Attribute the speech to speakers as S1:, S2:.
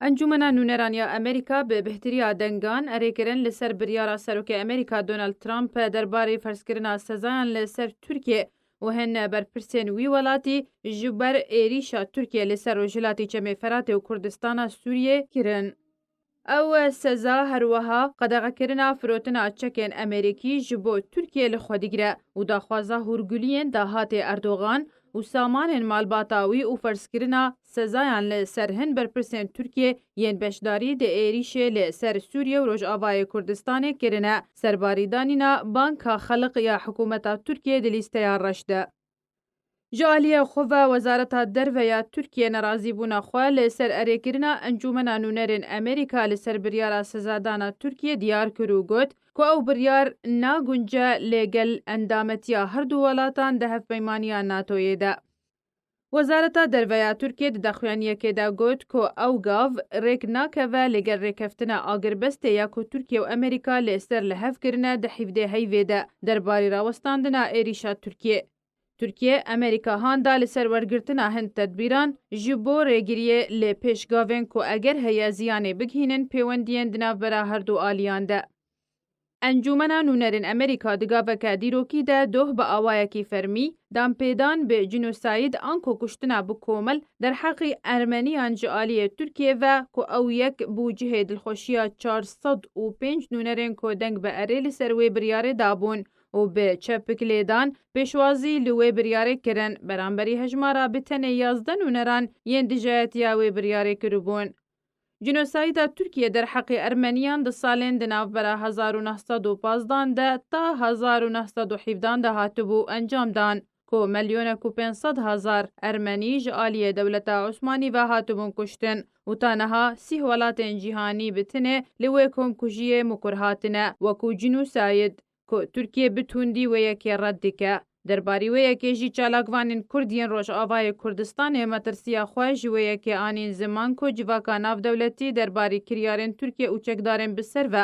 S1: Encûmena Nûneran ya Amerîka bi bihtirîya dengan erê kirin li ser biryara Serokê Amerîka Donald Trump derbarê ferzkirina sezayan li ser Tirkiyê û hin berpirsên wî welatî ji ber êrîşa Tirkiyê li ser Rojhilatê Çemê Feratê û Kurdistana Sûriyê kirin. Ew seza her weha qedexekirina firotina çekên Amerîkî ji bo Tirkiyê li xwe digire û daxwaza hûrguliyên dahatê Erdogan û samanên malbata wî û ferzkirina sezayan li ser hin berpirsên Tirkiyê yên beşdarî di êrîşê li ser Sûriye û Rojavayê Kurdistanê kirine, serbarî danîna Banka Xelq ya hikûmeta Tirkiyê di lîsteya reş de. Ji aliyê xwe ve Wezareta Derve ya Tirkiyê nerazîbûna xwe li ser erêkirina Encûmena Nûnerên Amerîka li ser biryara sezadana Tirkiyê diyar kir û got, ku ew biryar nagunce li gel endametiya her du welatan di Hevpeymaniya NATO'yê de. Wezareta Derve ya Tirkiyê di daxuyaniyekê de got ku ew gav rêk nakeve li gel rêkeftina agirbestê ya ku Tirkiye û Amerîka li ser li hev kirine di hîvdê heyvê de derbarî rawestandina êrîşa Tirkiyê. Tirkiye, Amerîka han da li ser wergirtina hin tedbîran ji bo rêgiriyê lê pêş gavên ku eger heye ziyanê bigihînin pêwendiyên di navbera her du aliyan de. Encûmena Nûnerên Amerîka di gaveke dîrokî de doh bi awayekî fermî, danpêdan bi jînosayîd anko kuştina bi komel derheqî Ermeniyan ji aliyê Tirkiyê ve ku ew yek bû cihê dilxweşiya çar sed û pênc nûnerên ku deng bi erê li ser wê biryarê dabûn û bi çepik lêdan pêşwazî li wê biryarê kirin, beramberî hejmara bi tenê yazdeh nûneran yên dijayetiya wê biryarê kiribûn. Jînosayda Tirkiye derheqê Ermeniyan di salên di navbera hezar û neh sed û pazdeh an de ta hezar û neh sed û hîvdeh an de hatibû encamdan. ku milyonek û pênc sed hezar Ermenî ji aliyê dewleta Osmanî ve hatibûn kuştin û ta niha sîh welatên cîhanî bi tinê li wê komkujiyê mukur hatine wekû cînûsayd ku Tirkiye bi tundî wê yekê red dike. Derbarî wê yekê jî çalakvanên Kurd yên Rojavayê Kurdistanê metirsiya xwe ji wê yekê anîn ziman ku civaka navdewletî derbarî kiryarên Tirkiye û çekdarên bi ser ve